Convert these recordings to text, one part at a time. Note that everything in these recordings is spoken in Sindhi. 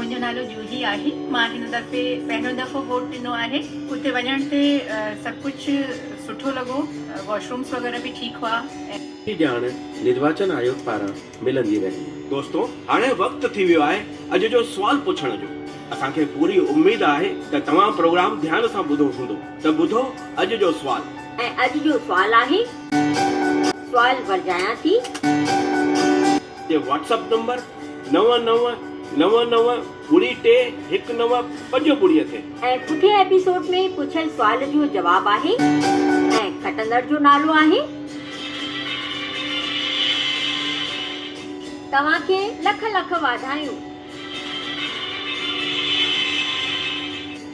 منهنجو نالو جوهي آهي مان هن دفعي پهريون دفعو ووٽ ڏنو آهي اتي وڃڻ تي سڀ ڪجهه سٺو لڳو واش رومس وغيره به ٺيڪ هئا ۽. جي ڄاڻ نرواچن آيوگ پاران ملندي رهي. دوستو هاڻي وقت ٿي ويو آهي اڄ جو سوال پڇڻ جو اسان کي پوري اميد آهي ته توهان پروگرام ڌيان سان ٻڌو هوندو ته ٻڌو اڄ جو سوال. ۽ اڄ جو سوال آهي. سوال ورجايان ٿي. جي واٽس اپ نمبر نو نو نو نو ٻڙي ٽي هڪ نو پنج ٻڙي تي. ۽ پٺين ايپيسوڊ ۾ پڇيل سوال جو جواب آهي ۽ کٽندڙ جو نالو آهي. توهان کي لک لک واڌايون.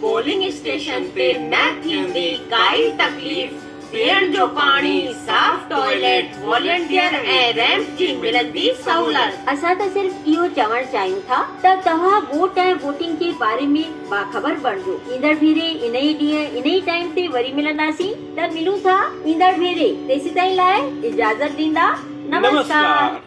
پولنگ اسٽيشن تي نه ٿيندي ڪائي تڪليف، پيئڻ جو پاڻي، صاف ٽوائليٽ، والنٽيئر ۽ ريمپ جي ملندي سهولت. اسان ته صرف اهو چوڻ چاهيون ٿا ته توهان ووٽ ۽ ووٽنگ جي باري ۾ باخبر بڻجو. ايندڙ ڀيري انهي ڏينهن انهي ٽائيم تي وري ملنداسين ته ملون ٿا ايندڙ ڀيري تيسيتائين لاء اجازت ڏيندا نمسڪار.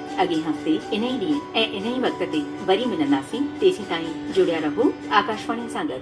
اڳئين هفتي انهي ڏينهن ۽ انهي وقت تي وري ملنداسين تيسين تائين جڙيا رهو آڪاشواڻي سان گڏ.